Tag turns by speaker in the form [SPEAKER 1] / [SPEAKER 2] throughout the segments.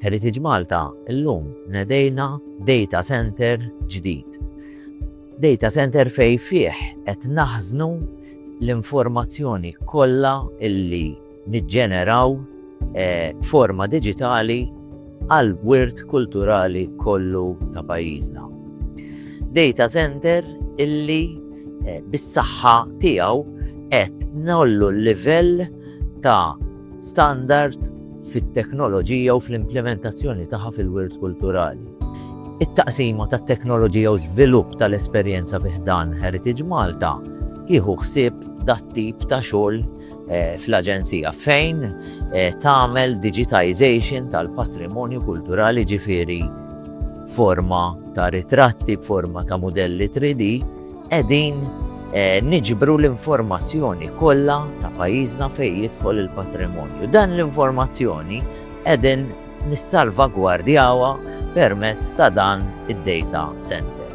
[SPEAKER 1] Heritage Malta, illum nedejna data center ġdid. Data center fej fih qed naħżnu l-informazzjoni kollha illi niġġeneraw eh, forma digitali għall-wirt kulturali kollu ta' pajjiżna. Data center illi eh, bis-saħħa tiegħu qed nollu l-livell ta' standard fit-teknoloġija u fl-implementazzjoni tagħha fil-wirt kulturali. It-taqsima tat teknoloġija u żvilupp tal-esperjenza fiħdan Heritage Malta tieħu ħsieb dat-tip ta' xogħol Eh, fl-Aġenzija fejn eh, tagħmel digitization tal-patrimonju kulturali ġifiri forma ta' ritratti, forma ta' modelli 3D, edin eh, niġbru l-informazzjoni kollha ta' pajjiżna fejn jidħol il-patrimonju. Dan l-informazzjoni edin nissalvagwardjawa permezz ta' dan id-data center.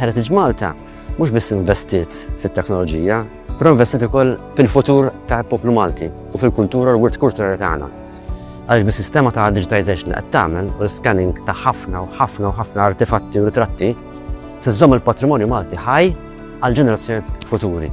[SPEAKER 1] Heritage Malta Mhux biss investiet fit-teknoloġija, però investiet ukoll fil-futur ta' poplu Malti u fil-kultura l-wirt kulturali tagħna. Għaliex bis-sistema ta' digitization qed tagħmel u l-scanning ta' ħafna u ħafna u ħafna artefatti u ritratti, se żżomm il-patrimonju Malti ħaj għal ġenerazzjoni futuri.